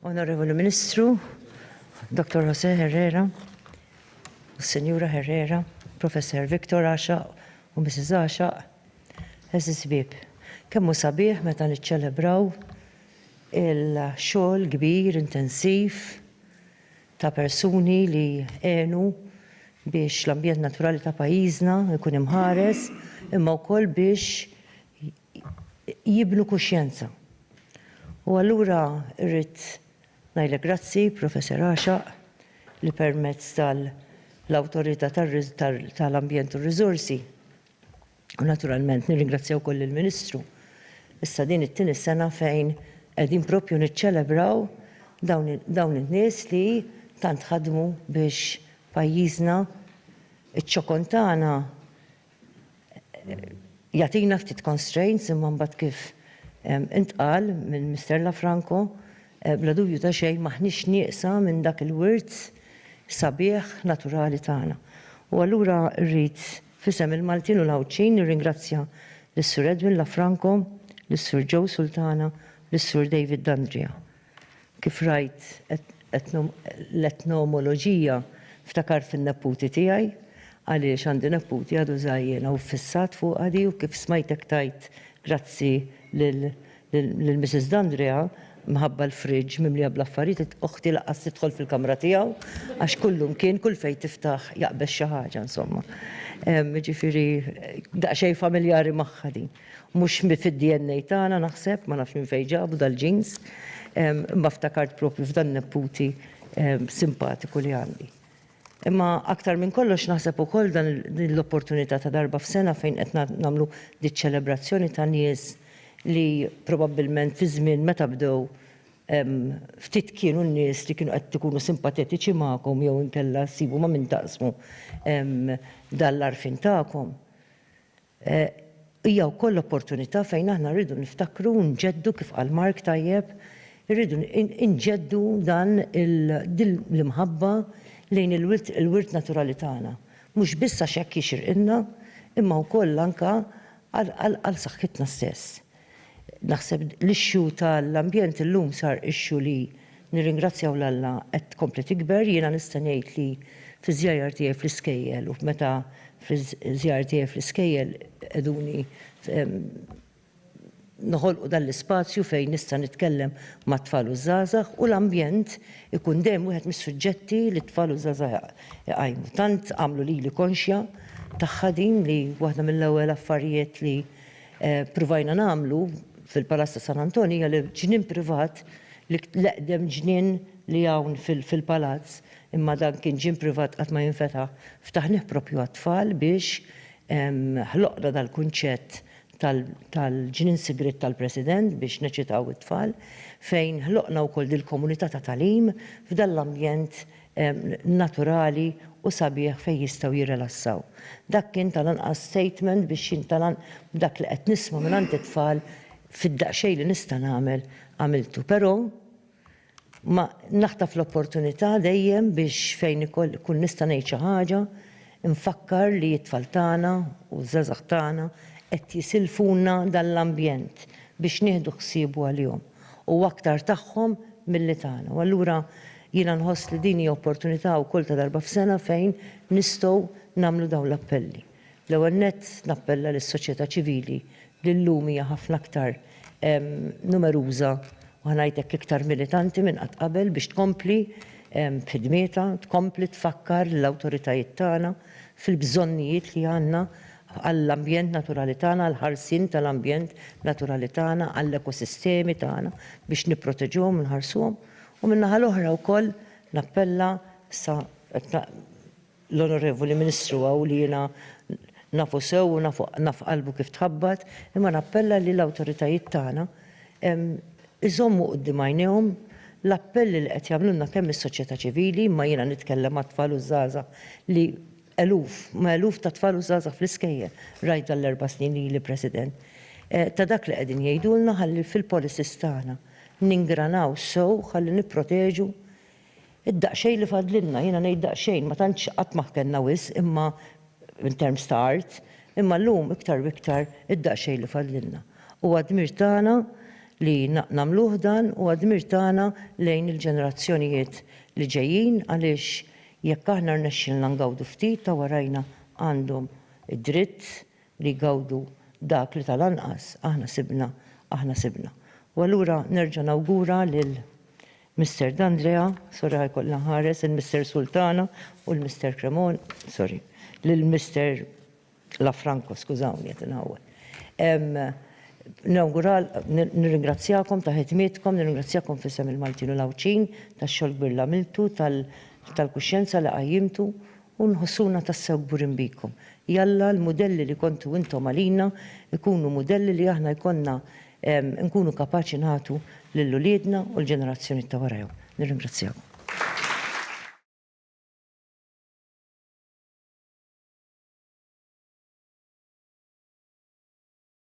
Onorevoli Ministru, Dr. Jose Herrera, Senjura Herrera, Professor Victor Asha u Mrs. Asha, eżis bib, kemmu sabiħ meta niċċelebraw il-xogħol kbir, intensiv, ta' persuni li għenu biex l-ambjent naturali ta' pajjiżna jkun imħares imma wkoll biex jibnu kuxjenza. U allura rrid ngħidlek grazzi, Professor Għaxaq, li permezz tal-Awtorità tal-Ambjent u r-Riżorsi, U naturalment nirringrazzja wkoll lill-Ministru. Issa din it-tieni sena fejn qegħdin proprju niċċelebraw dawn dawn in-nies li tant ħadmu biex pajjiżna iċ-ċokon tagħna jagħtina ftit constraints imma mbagħad kif intqal minn Mister Lafranco bla dubju ta' xejn m'aħniex nieqsa minn dak il-wirt sabiħ naturali tagħna. U allura rrid F'isem il-Maltin u l-Għawdxin nirringrazzja lis-Sur Edwin Lafranco, lis-Sur Joe Sultana, lis-Sur David D'Andria. Kif rajt l-etnomoloġija ftakart in-nepputi tiegħi għaliex għandi nepputi għadu żgħir u ffissat fuqha di u kif smajtek tgħid grazzi lil lil Missis D'Andrea mħabba l-fridge mimlija bl-affarijiet oħti laqqas tidħol fil-kamra tiegħu għax kullu mkien kull fejn tiftaħ jaqbeż xi ħaġa insomma. Jiġifieri daqsxejn familjari magħha din. Mhux fid-DNA tagħna naħseb ma nafx minn fejn ġabu dal-genes imma ftakart proprju f'dan nepputi simpatiku li għandi. Imma aktar minn kollox naħseb ukoll dan din l-opportunità ta' darba f'sena fejn qed nagħmlu diċ-ċelebrazzjoni ta' nies li probabbilment fi żmien meta bdew ftit kienu n-nies li kienu qed ikunu simpatetiċi magħkom jew inkella ssibu ma' min taqsmu dan l-għarfien tagħkom. Hija wkoll opportunità fejn aħna rridu niftakru u nġeddu kif qal Mark tajjeb, irridu nġeddu dan din l-imħabba lejn il-wirt naturali tagħna, mhux biss għax hekk jixirqilna, imma wkoll anke għal saħħitna stess. Naħseb l-issue tal-ambjent illum sar issue li nirringrazzjaw 'l Alla qed tkompli tikber. Jiena nista' ngħid li fiż-żjajjar tiegħi fl-iskejjel u f'meta fiż-żjajjar tiegħi fl-iskejjel qegħduni noħolqu dan l-ispazju fejn nista' nitkellem mat-tfal u ż-żgħażagħ u l-ambjent ikun dejjem wieħed mis-suġġetti li t-tfal u ż-żgħażagħ iqajmu. Tant għamlu lili konxja tagħha din li waħda mill-ewwel affarijiet li Ppruvajna nagħmlu fil-Palazz ta' San Antonio hija li ġnien privat l-eqdem ġnien li hawn fil-Palazz imma dan kien ġien privat qatt ma jinfetaħ ftaħnieh proprju għat-tfal biex ħloqna dal-kunċett tal-ġnien sigriet tal-President biex neċitaw it-tfal fejn ħloqna wkoll dil-komunità ta' tagħlim f'dan l-ambjent naturali u sabiħ fejn jistgħu jirrelassaw. Dak kien tal-anqas statement biex jien tal-an b'dak li qed nisma' mingħand it-tfal fid-daqsxejn li nista' nagħmel għamiltu. Però ma naħtaf l-opportunità dejjem biex fejn ikoll ikun nista' ngħid xi ħaġa Infakkar li t-tfal tagħna u ż-żgħażagħ tagħna qed jisilfulna dan l-ambjent biex nieħdu ħsiebu għalihom u aktar tagħhom milli tagħna u allura jiena nħoss li din hija opportunità wkoll ta' darba f'sena fejn nistgħu nagħmlu dawn l-appelli. L-ewwel nett nappella lis-soċjetà ċivili li llum hija ħafna aktar numeruża u ħa ngħid hekk iktar militanti minn qatt qabel biex tkompli b'ħidmietha, tkompli tfakkar lill-awtoritajiet tagħna fil-bżonnijiet li għandna għall-ambjent naturali tagħna, għall-ħarsien tal-ambjent naturali tagħna, għall-ekosistemi tagħna biex nipproteġuhom u nħarsuhom, u min-naħa l-oħra wkoll nappella sa l-Onorevoli Ministru hawn li jiena nafu sew u nafu naf qalbu kif tħabbat, imma nappella li l-awtoritajiet tagħna iżommu quddiem għajnejhom l-appelli li qed jagħmlulna kemm is-soċjetà ċivili, imma jiena nitkellem għat-tfal u ż-żgħażagħ li eluf, ma' eluf ta' tfal u żgħażagħ fl-iskejjel, rajt dan l-erba' snin li ili President, ta' dak li qegħdin jgħidulna ħalli fil-policies tagħna ningranaw sew ħalli nipproteġu Id-daqsxejn li fadlilna, jiena ngħid daqsxejn, ma tantx qatt ma ħkennha wisq imma in terms ta' art, imma llum iktar u iktar id-daqsxejn li fadlilna. Huwa d-dmir tagħna li nagħmluh dan, huwa d-dmir tagħna lejn il-ġenerazzjonijiet li ġejjin għaliex jekk aħna rnexxilna ngawdu ftit ta' warajna għandhom id-dritt li jgawdu dak li tal-anqas aħna sibna aħna sibna. U allura nerġa' nawgura lil Mister D'Andrea, sorry ħa jkollna nħares, il-Mister Sultana u l-Mister Cremon, sorry, lill-Mister Lafranco, skużawni qed inħawwad. Nawgural, nirringrazzjakom ta' ħidmietkom, nirringrazzjakom f'isem il-Maltin u l-Għawdxin tax-xogħol kbir li għamiltu, tal-kuxjenza li qajjimtu U nħossuna tassew kburin bikom. Jalla l-mudelli li kontu intom għalina jkunu mudelli li aħna jkollna nkunu kapaċi nagħtu lil uliedna u l-ġenerazzjonijiet ta' warajhom. Nirringrazzjakom.